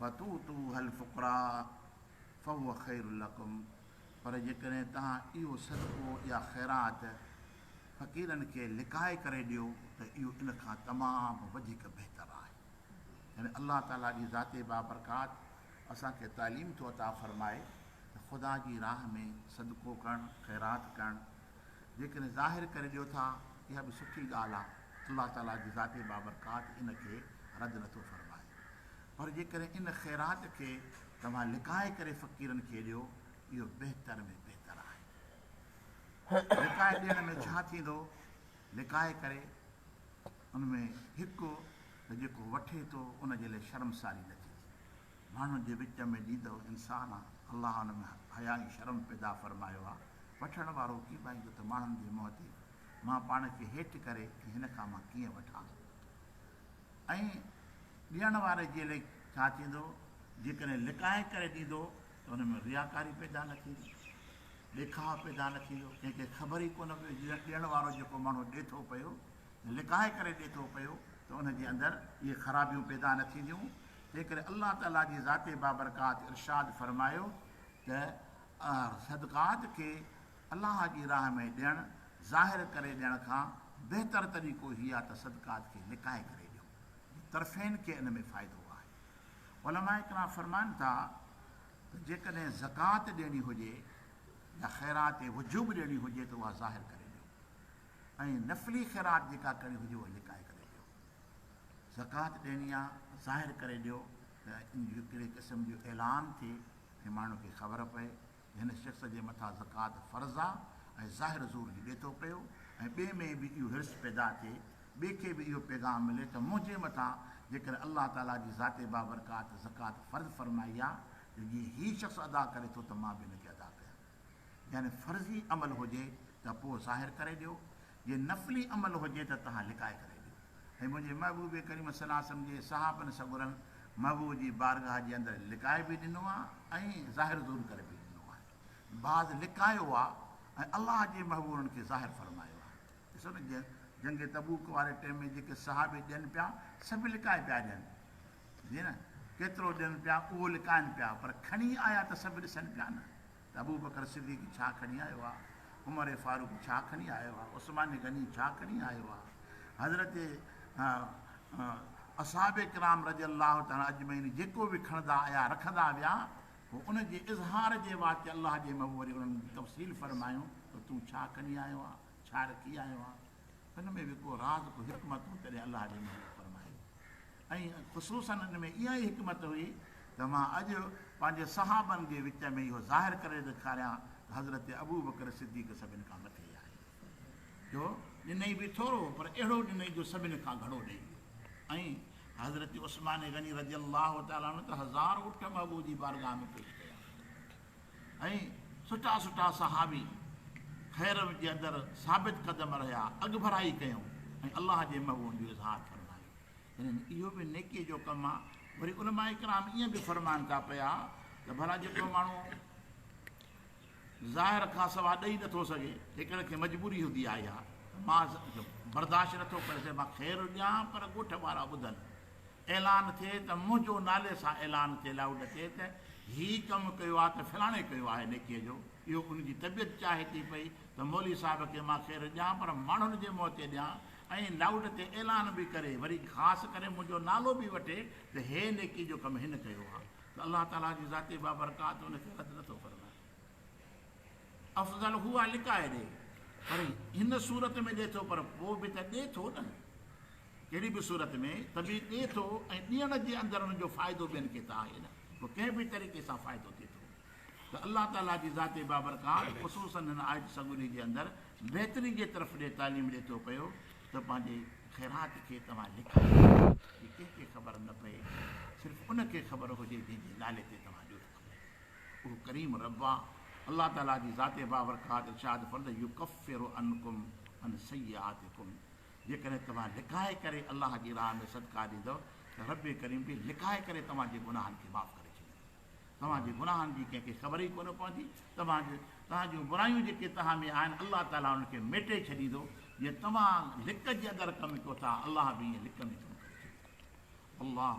وتؤتوها الفقراء فهو خير لکم پر جيڪڏهن توهان اهو صدقو يا خيرات فقيرن کي لڪائي ڪري ڏيو ته اهو ان کان تمام وڌيڪ بهتر آهي. يعني الله تعاليٰ جي ذات بابرڪات اسان کي تعليم ٿو عطا فرمائي ته خدا جي راهه ۾ صدقو ڪرڻ، خيرات ڪرڻ، جيڪڏهن ظاهر ڪري ڏيو ٿا اها به سٺي ڳالهه آهي. الله تعاليٰ جي ذاتي بابرڪات ان کي رد نه ٿو فرمائي. پر جيڪڏهن ان خيرات کي توهان لڪائي ڪري فقيرن کي ڏيو، اهو بهتر ۾ بهتر آهي. لڪائي ڏيڻ ۾ ڇا ٿيندو؟ لڪائي ڪري ان ۾ هڪ ته جيڪو وٺي ٿو ان جي لاء شرمساري نه ٿي ٿئي. ماڻهن جي وچ ۾ ڏيندڙ انسان آ، الله ان ۾ حيا ۽ شرم پيدا فرمايو آ. وٺڻ وارو ڪيٻائيندو ته ماڻهن جي منهن تي مان پاڻ کي هيٺ ڪري ۽ هن کان مان ڪيئن وٺان؟ ۽ ڏيڻ واري جي لئه ڇا ٿيندو؟ جيڪڏهن لڪائي ڪري ڏيندو ته ان ۾ رياڪاري پيدا نه ٿيندي؟ ڏيکاء پيدا نه ٿيندو؟ ڪنهن کي خبر ئي ڪونه پوي جو ڏيڻ وارو جيڪو ماڻهو ڏي ٿو پيو ته لڪائي ڪري ڏي ٿو پيو ته ان جي اندر اهي خرابيون پيدا نه ٿينديون؟ تنهن ڪري الله تعاليٰ جي ذات بابرڪات ارشاد فرمايو ته صدقات کي الله جي راهه ۾ ڏيڻ، ظاهر ڪري ڏيڻ کان بهتر طريقو هي آهي ته صدقات کي لڪائي ڪري ڏيو جو طرفين کي ان ۾ فائدو آهي. علماء ڪرام فرمائن ٿا ته جيڪڏهن زڪوات ڏيڻي هجي يا خيرات وجوب ڏيڻي هجي ته اها ظاهر ڪري ڏيو ۽ نفلي خيرات جيڪا ڪرڻي هجي اها لڪائي ڪري ڏيو. زڪوات ڏيڻي آهي ظاهر ڪري ڏيو ته ان جو ڪهڙي قسم جو اعلان ٿئي ۽ ماڻهن کي خبر پئي. هن شخص جي مٿان زڪوات فرض آ ۽ ظاهر زور جي ڏي ٿو پيو ۽ ٻئي ۾ به اهو حرص پيدا ٿئي، ٻئي کي به اهو پيغام ملي ته منهنجي مٿان جيڪڏهن الله تعاليٰ جي ذات بابرڪات زڪوات فرض فرمائي آ ته جيئن هي شخص ادا ڪري ٿو ته مان به ان کي ادا ڪيان. يعني فرضي عمل هجي ته پوء ظاهر ڪري ڏيو جي نفلي عمل هجي ته توهان لڪائي ڪري ڏيو ۽ منهنجي محبوب ڪريم صلي الله عليه وسلم جي صحابن سڳورن محبوب جي بارگاهه جي اندر لڪائي به ڏنو آهي ۽ ظاهر ظهور ڪري به ڏنو آهي بعض لڪايو آهي ۽ الله جي محبوب انهن کي ظاهر فرمايو آهي ڏسو نه جنهن جنگ تبوڪ واري ٽيم ۾ جيڪي صحابي ڏين پيا سڀ لڪائي پيا ڏين جي نه ڪيترو ڏين پيا اهو لڪائن پيا پر کڻي آيا ته سڀ ڏسن پيا نه ته ابوبڪر صديق ڇا کڻي آيو آ، عمر فاروق ڇا کڻي آيو آ، عثمان غني ڇا کڻي آيو آ، حضرت اصحاب ڪرام رضي الله تعالٰي اجمعين جيڪو به کڻندا آيا رکندا ويا پوء ان جي اظهار جي واسطي الله جي محبوب وري انهن تفصيل فرمايون ته تون ڇا کڻي آيو آ، ڇا رکي آيو آ. ان ۾ به ڪو راز ڪو حڪمت هو تڏهن الله جي محبوب فرمائي ۽ خصوصا ان ۾ اها ئي حڪمت هئي ته مان اڄ پنهنجي صحابن جي وچ ۾ اهو ظاهر ڪري ڏيکاريان ته حضرت ابوبڪر صديق سڀن کان مٿي آهي جو ڏنئي به ٿورو هو پر اهڙو ڏنئي جو سڀن کان گهڻو ڏئي ويو ۽ حضرت عثمان غني رضي الله تعالٰي عنه ته هزار اٺ محبوب جي بارگاهه ۾ پيش ڪيا ۽ سٺا سٺا صحابي خير جي اندر ثابت قدم رهيا، اڳڀرائي ڪيون ۽ الله جي محبوبن جو اظهار فرمايو. يعني اهو به نيڪيء جو ڪم آ. وري علماء ڪرام ائين به فرمائن ٿا پيا ته ڀلا جيڪو ماڻهو ظاهر کان سواء ڏئي نٿو سگهي، جيڪڏهن کي مجبوري هوندي آئي ها ته مان برداشت نٿو ڪري سگهان مان خير ڏيان پر ڳوٺ وارا ٻڌن. اعلان ٿئي ته منهنجو نالي سان اعلان ٿئي لائوڊ اچي ته هي ڪم ڪيو آ ته فلاڻي ڪيو آهي نيڪيء جو اهو ان جي طبيعت چاهي ٿي پئي ته مولوي صاحب کي مان خير ڏيان پر ماڻهن جي منهن تي ڏيان ۽ لائوڊ تي اعلان به ڪري وري خاص ڪري منهنجو نالو به وٺي ته هي نيڪي جو ڪم هن ڪيو آ ته الله تعالي جي ذات بابرڪات ان کي رد نٿو فرمائي افضل هو آ لڪائي ڏي پر هن صورت ۾ ڏي ٿو پر پوء به ته ڏي ٿو نه ڪهڙي به صورت ۾ ته به ڏئي ٿو ۽ ڏيڻ جي اندر ان جو فائدو ٻين کي ته آهي نه پوء ڪنهن به طريقي سان فائدو ٿئي ٿو ته الله تعاليٰ جي ذات بابرڪات خصوصاً هن آيت سڳوري جي اندر بهتري جي طرف ڏي تعليم ڏئي ٿو پيو ته پنهنجي خيرات کي توهان لڪائي ڇڏيو جي ڪنهن کي خبر نه پئي صرف ان کي خبر هجي جنهن جي نالي تي توهان ڏيو ٿا اهو ڪريم رب آ الله تعاليٰ جي ذات بابرڪات ارشاد فرد يڪفر عنڪم عن سيئاتڪم جيڪڏهن توهان لڪائي ڪري الله جي راهه ۾ صدقا ڏيندؤ ته ربّ ڪريم به لڪائي ڪري توهان جي گناهن کي معاف ڪري ڇڏيندو. توهان جي گناهن جي ڪنهن کي خبر ئي ڪونه پوندي. توهان توهان جون برايون جيڪي توهان ۾ آهن الله تعاليٰ انهن کي ميٽي ڇڏيندو. جيئن توهان لڪ جي اندر ڪم ڪيو ٿا الله به ائين لڪ ۾ ڪم ڪري ڇڏيندو. والله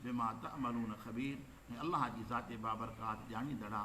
بما تعملون خبير ۽ الله جي ذات بابرڪات ڄاڻيندڙ آ.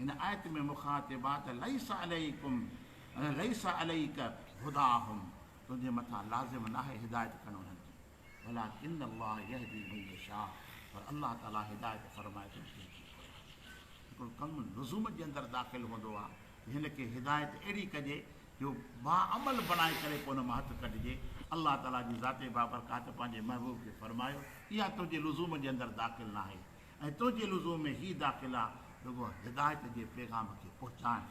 هن آيت ۾ مخاطبات ليس عليڪم يعني ليس عليڪ هداهم تنهنجي مٿان لازم ناهي هدايت ڪرڻ انهن جي ولڪن الله يهدي من يشاء پر الله تعالي هدايت فرمائي ٿو جنهن کي گهري. هڪڙو ڪم لزوم جي اندر داخل هوندو آهي ته هن کي هدايت اهڙي ڪجي جو باعمل بڻائي ڪري پوء ان مان هٿ ڪڍجي الله تعالي جي ذات بابرڪات پنهنجي محبوب کي فرمايو اها تنهنجي لزوم جي اندر داخل ناهي. ۽ تنهنجي لزوم ۾ هي داخلا رڳو هدايت جي پيغام کي پهچائڻ،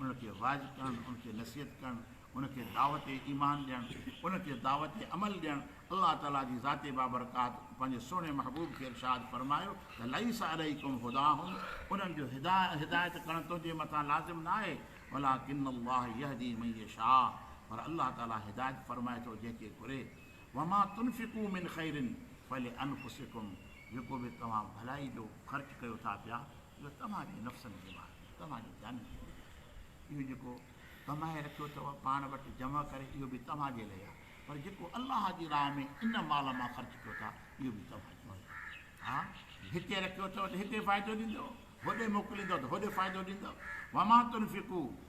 ان کي واعظ ڪرڻ، ان کي نصيحت ڪرڻ، ان کي دعوت ايمان ڏيڻ، ان کي دعوت عمل ڏيڻ، الله تعاليٰ جي ذات بابرڪات پنهنجي سهڻي محبوب کي ارشاد فرمايو ته ليس عليڪم هداهم انهن جو هدايت ڪرڻ تنهنجي مٿان لازم ناهي ولڪن الله يهدي من يشاء پر الله تعاليٰ هدايت فرمائي ٿو جنهن کي گهري وما تنفقو من خير فلانفسکم جيڪو به توهان ڀلائي جو خرچ ڪيو ٿا پيا اهو توهان جي نفسن جي مان توهان جي جانن جي لاء آهي اهو جيڪو ڪمائي رکيو اٿو پاڻ وٽ جمع ڪري اهو به توهان جي لاء آهي پر جيڪو الله جي راهه ۾ ان مال مان خرچ ڪيو ٿا اهو به توهان جي لاء ها هتي رکيو اٿو ته هتي فائدو ڏيندو هوڏي موڪليندو ته هوڏي فائدو ڏيندو وما تنفقو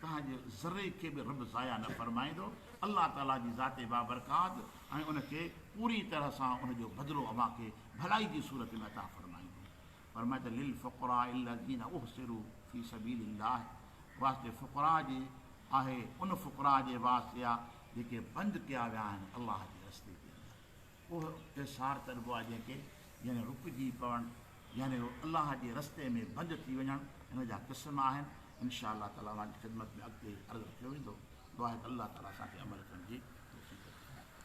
توهان جي ذري کي به رب ضايع نه فرمائيندو. الله تعالي جي ذات بابرڪات ۽ ان کي پوري طرح سان ان جو بدلو اوهان کي ڀلائي جي صورت ۾ عطا فرمائيندو. فرمايو ته للفقراء الذين احصروا في سبيل الله واسطي فقراء جي آهي ان فقراء جي واسطي آهي جيڪي بند ڪيا ويا آهن الله جي رستي جي اندر. اهي ايسار چئبو آهي جنهن کي، يعني رڪجي پوڻ، يعني الله جي رستي ۾ بند ٿي وڃڻ، ان جا قسم آهن، ان شآء الله تعالٰي اوهان جي خدمت ۾ اڳتي عرض رکيو ويندو، دعا آهي ته الله تعالٰي اسان کي عمل ڪرڻ جي توفيق عطا فرمائي.